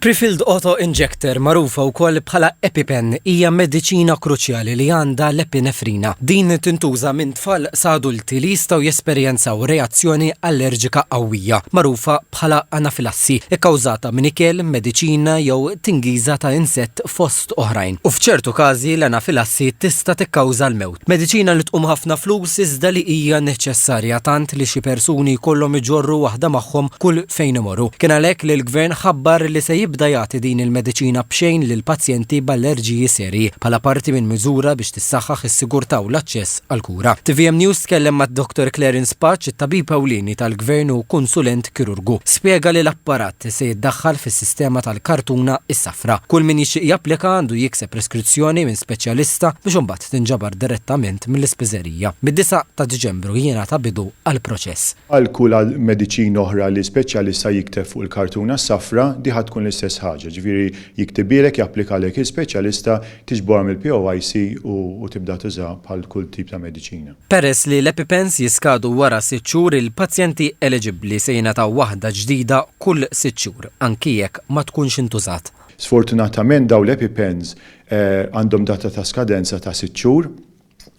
Prefilled auto injector, magħrufa wkoll bħala EpiPen, hija mediċina kruċjali li għandha l-epinefrina. Din tintuża minn tfal sa adulti li jistgħu jesperjenzaw reazzjoni allerġika qawwija, magħrufa bħala anafilassi, ikkawżata minn ikel, mediċina jew tingiża ta' insett fost oħrajn. U f'ċertu każi l-anafilassi tista' tikkawża l-mewt. Mediċina li tqum ħafna flus iżda li hija neċessarja tant li xi persuni jkollhom iġorru waħda magħhom kull fejn imorru. Kien għalhekk li l-Gvern ħabbar li se jibda jagħti din il-mediċina b'xejn lil pazjenti b'allerġiji serji bħala parti minn miżura biex tissaħħaħ is-sigurtà u l-aċċess għall-kura. Tvm News tkellem ma' Dr Clarence Paċ, it-tabib ewlieni tal-Gvern u kunsulent kirurgu. Spjega li l-apparat se jiddaħħal fis-sistema tal-kartuna s-safra. Kull min jixtieq japplika għandu jikseb preskrizzjoni minn speċjalista biex imbagħad. se tinġabar direttament mill-ispiżerija. Mid-disa' ta' Diċembru jingħata bidu għall-proċess. Għal kull mediċina oħra li speċjalista jikteb fuq il-kartuna s-safra, di ħa tkun l-istess ħaġa. Ġifieri jiktibhielek, japplikalek il-speċjalista, tiġborha mill-POIC u tibda tużaha bħal kull tip ta' mediċina. Peress li l-EpiPens jiskadu wara sitt xhur, il-pazjenti eleġibbli se jingħataw waħda ġdida kull sitt xhur, anki jekk ma tkunx intużat. Sfortunatament dawn l-EpiPens għandhom data ta' skadenza ta' sitt xhur,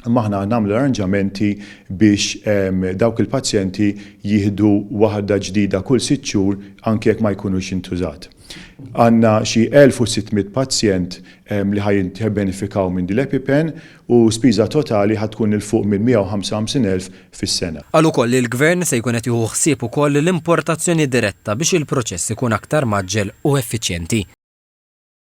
imma aħna nagħmlu arranġamenti biex dawk il-pazjenti jieħdu waħda ġdida kull sitt xhur anki jekk ma jkunux intużat. Għandna xi 1,600 pazjent li ħa jibbenefikaw minn din l-EpiPen u spiża totali ħa tkun 'il fuq minn 155 elf fis-sena. Qal ukoll li l-Gvern se jkun qed jieħu ħsieb ukoll l-importazzjoni diretta biex il-proċess ikun aktar mgħaġġel u effiċjenti.